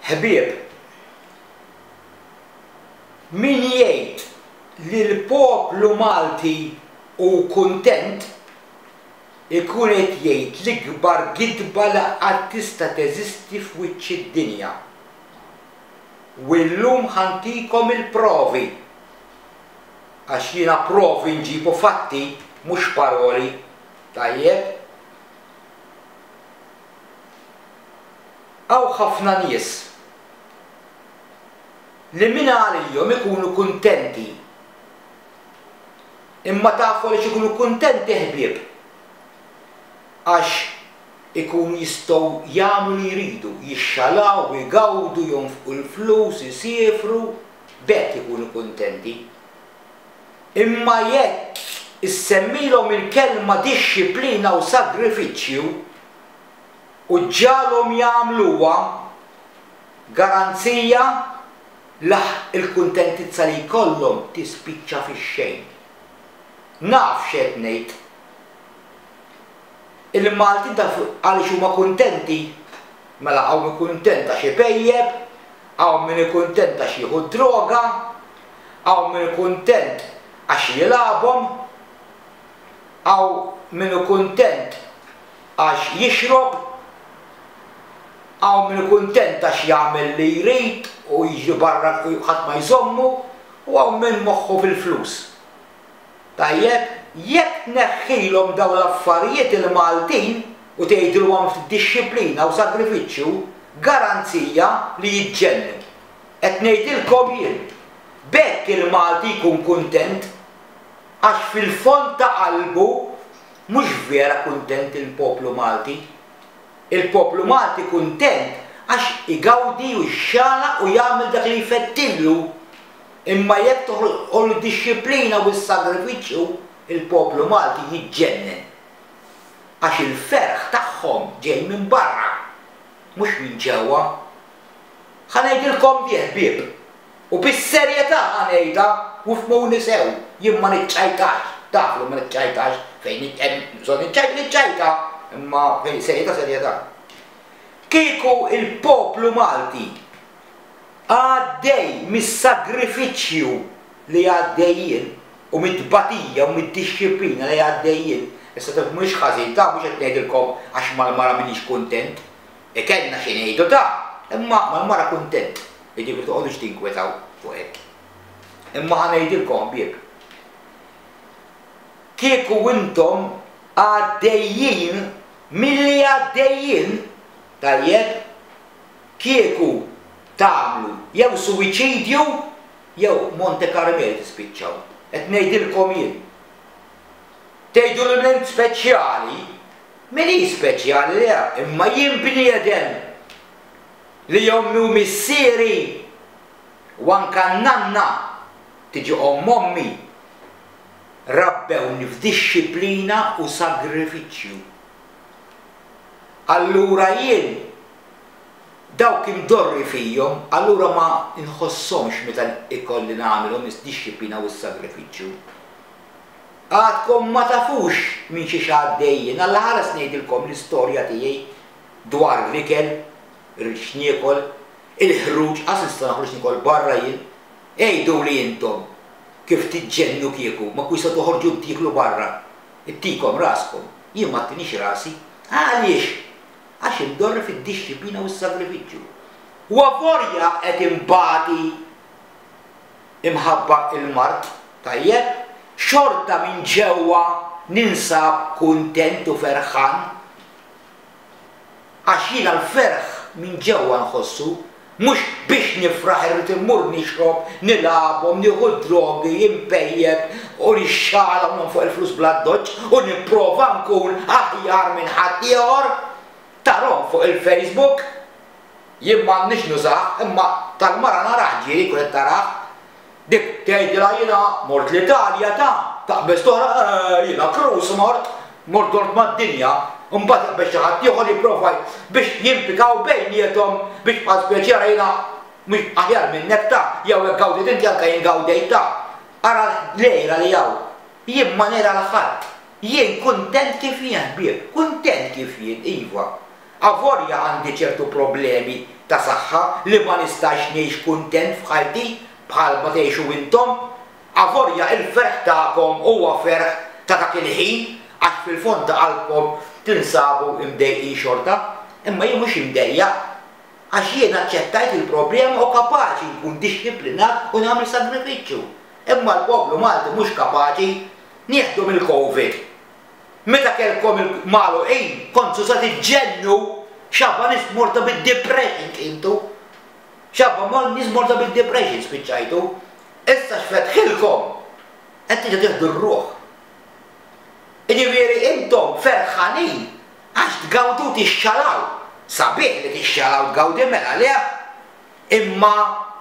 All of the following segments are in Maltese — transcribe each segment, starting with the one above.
Ħbieb, min jgħid li l-poplu Malti hu kuntent ikun qed jgħid l-ikbar gidba li qatt tista' teżisti f'wiċċ id-dinja. U illum ħa ntikom il-provi. Għax jiena provi nġib u fatti mhux paroli. Tajjeb? Hawn ħafna nies li mingħalihom ikunu kuntenti. Imma tafu għaliex ikunu kuntenti ħbieb? Għax ikunu jistgħu jagħmlu li jridu, jixxalaw, igawdu, jonfqu l-flus, isiefru, b'hekk ikunu kuntenti. Imma jekk issemmilhom il-kelma dixxiplina u sagrifiċċju, u ġġagħalhom jagħmluha garanzija li l-kuntentizza li jkollhom tispiċċa fix-xejn. Naf x'qed ngħid. Il-Maltin taf għaliex huma kuntenti? Mela hawn min kuntent għax ipejjep, hawn min hu kuntent għax jieħu d-droga, hawn min hu kuntent għax jilgħabhom, hawn min hu kuntent għax jixrob, hawn min kuntent għax jagħmel li jrid u jiġri barra ħadd ma jżommu u hawn min moħħu fil-flus. Tajjeb, jekk tneħħilhom dawn l-affarijiet il-Maltin u tgħidilhom hemm ftit dixxiplina u sagrifiċċju, garanzija li jiġġennu. Qed ngħidilkom jien. B'hekk il-Malti jkun kuntent għax fil-fond ta' qalbu Mhux vera kuntent il-poplu Malti? Il-poplu Malti kuntent għax igawdi u jxanaq u jagħmel dak li jfettillu. Imma jekk toħloqlu d-dixxiplina u s-sagrifiċċju, il-poplu Malti jiġġennen. Għax il-ferħ tagħhom ġej minn barra, mhux minn ġewwa. Ħa ngħidilkom di, ħbieb, U bis-serjetà ħa ngħidha, u fhmuni sew, jien ma niċċajtax, taf li ma niċċajtax, fejn hemm bżonn niċċajta, niċċajta, imma fejn serjetà, serjetà. Kieku l-poplu Malti għaddej mis-sagrifiċċju li għaddej jien u mit-tbatija u mid-dixxiplina li għaddej jien, issa taf mhux ħażin, taf mhux qed ngħidilkom għax mal-mara m'iniex kuntent, E kellna xi ngħidu ta! Imma mal-mara kuntent, jiġifieri toqgħodux tinkwetaw fuq hekk. Imma ħa ngħidilkom ħbieb. Kieku intom għaddejjin milli għaddejjin, tajjeb, kieku tagħmlu jew suwiċidju jew Monte Carmel tispiċċaw. Qed ngħidilkom jien. Tgħidu l-ilment speċjali? Min hi speċjali le, imma jien bniedem li ommi u missieri u anka n-nanna, tiġi omm ommi, rabbewni f'dixxiplina u sagrifiċċju. Allura jien dawk imdorri fihom, allura ma nħossomx meta ikolli nagħmilhom id-dixxiplina u s-sagrifiċċju. Għadkom ma tafux minn xiex għaddej jien. Alla ħares ngħidilkom l-istorja tiegħi dwar l-ikel, irrid x'niekol, il-ħruġ, qas nista' noħroġ nikol barra jien. Għiduli intom kif tiġġennu kieku ma tkunux se toħorġu tieklu barra. Ittikom raskom, jien ma ttinix rasi. Għaliex? Għax indorri fid-dixxiplina u s-sagrifiċċju. U avolja qed inbati! imħabba il-mard tajjeb, xorta minn ġewwa ninsab kuntent u ferħan. Għax jiena l-ferħ minn ġewwa nħossu, mhux biex nifraħ irrid immur nixrob, nilagħabhom, nieħu d-drogi, inpejjep u nixxala u nonfoq il-flus bl-addoċċ u nipprova nkun aħjar minn ħaddieħor, tarhom fuq il-Facebook. Jien m'għandnix nużah imma tal-mara narah ġie jkun qed tarah. Dik tgħidilha jiena mort l-Italja ta, taqbeż toħra eehh jiena Cruz mort, mort dort mad-dinja, imbagħad iqbeż xi ħadd ieħor jipprova biex jimpikaw bejniethom biex bħal speċi ara jiena mhux aħjar minnek ta, jew hekk gawdejt inti anke jien gawdejt ta. Ara l-għira li hawn. Jien ma ngħira 'l ħadd. Jien kuntent kif jien ħbieb. Kuntent kif jien, iva. Avolja għandi ċertu problemi ta' saħħa li ma nistax ngħix kuntent f'ħajti bħal ma tgħixu intom, avolja il-ferħ tagħkom huwa ferħ ta' dak il-ħin għax fil-fond ta' qalbkom tinsabu mdejqin xorta, imma jien mhux imdejjaq għax jiena aċċettajt il-problema u kapaċi nkun dixxiplinat u nagħmel sagrifiċċju. Imma l-poplu Malti mhux kapaċi. Nieħdu mill-Covid. Meta kellkom il magħluqin kontsu sa tiġġennu x'għaba nies morta bid depression tqiltu. X'għaba mor nies morta bid depression spiċċajtu. Issa x'fetħilkom qed tiġu tieħdu r-ruħ. Iġifieri intom ferħanin għax tgawdu tixxalaw. Sabiħ li tixxalaw tgawdi mela leh? Imma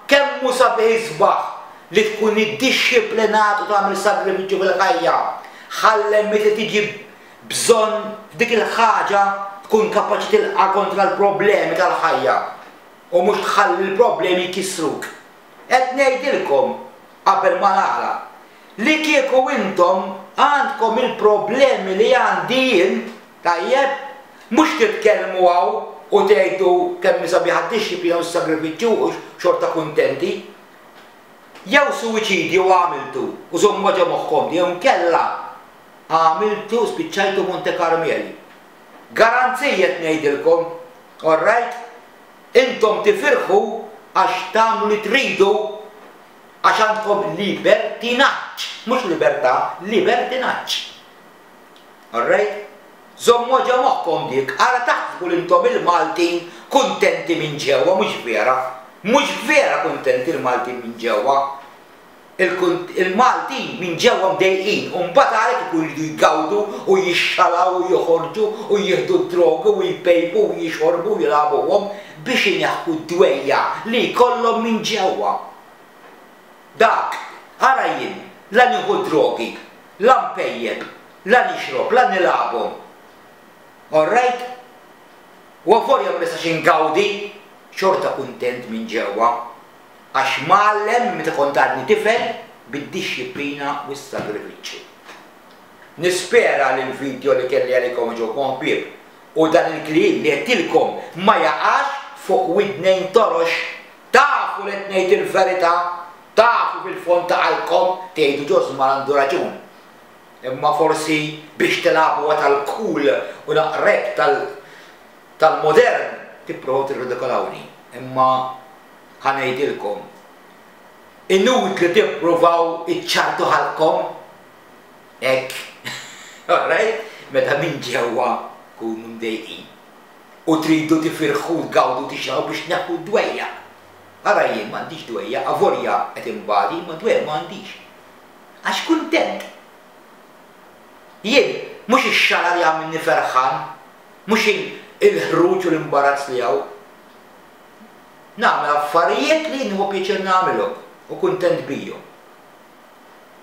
kemm hu sabiħ isbaħ li tkun iddixxiplinat u tagħmel sagrifiċċju fil-ħajja, ħallel meta tiġi bżonn f'dik il-ħaġa tkun kapaċi tilqa' kontra l-problemi tal-ħajja u mhux tħalli l-problemi jkissruk. Qed ngħidilkom, qabel ma nagħlaq, Li kieku intom għandkom il-problemi li għandi jien, tajjeb, mhux titkellmu hawn u tgħidu kemm hi sabiħa d-dixxiplina u s-sagrifiċċju u xorta kuntenti. Jew suwiċidju għamiltu, u żommuha ġo moħħkom di, jew inkella għamiltu, spiċċajtu Monte Karmeli. Garanziji qed ngħidilkom, orrajt? Intom tifirħu għax tagħmlu li tridu. għax għandkom libertinaġġ, mhux libertà, libertinaġġ. All right? Żommuha ġo moħħkom dik, ara taħsbu li intom il-Maltin kuntenti minn ġewwa, mhux vera. Mhux vera kuntenti l-Maltin minn ġewwa. Il-Maltin minn ġewwa mdejqin u mbagħad għalhekk ikun iridu jgawdu u jixxalaw u joħorġu u jieħdu d-drogi u jpejpu u jixorbu u jilagħbuhom. biex ineħħu d-dwejjaq li jkollhom minn ġewwa. Dak, ara jien, la nieħu d-drogi, la npejjep, la nixrob, la nilagħabhom. Orrajt? U avolja ma nistax ingawdi, xorta kuntent minn ġewwa, għax mgħallem minn meta kont għadni tifel bid-dixxiplina u s-sagrifiċċju. Nispera li l-vidjo li kelli għalikom għeġobkom ħbieb. u dan il-kliem li għedtilkom ma jaqax fuq widnejn torox. Tafu li qed ngħid il-verità, tafu fil-fond ta' qalbkom tgħidu Ġosman għandu raġun. Imma forsi biex tilagħbuha tal-cool u naqrek tal-modern tipprovaw tirridikolawni. Imma ħa ngħidilkom, inutli tippruvaw iċċarrtu ħalqkom. Hekk, alright, meta minn ġewwa tkunu mdejqin u tridu tifirħu, tgawdu, tixgħu biex tneħħu d-dwejjaq. Ara jien m'għandix dwejjaq, avolja qed inbati, imma dwejjaq ma għandix. Għax kuntent. Jien, mhux ix-xagħla li jagħmilni ferħan, mhux il-ħruġ u l-imbarazz li hawn. Nagħmel affarijiet li nieħu pjaċir nagħmilhom u kuntent bihom.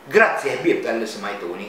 Grazzi ħbieb talli smajtuni.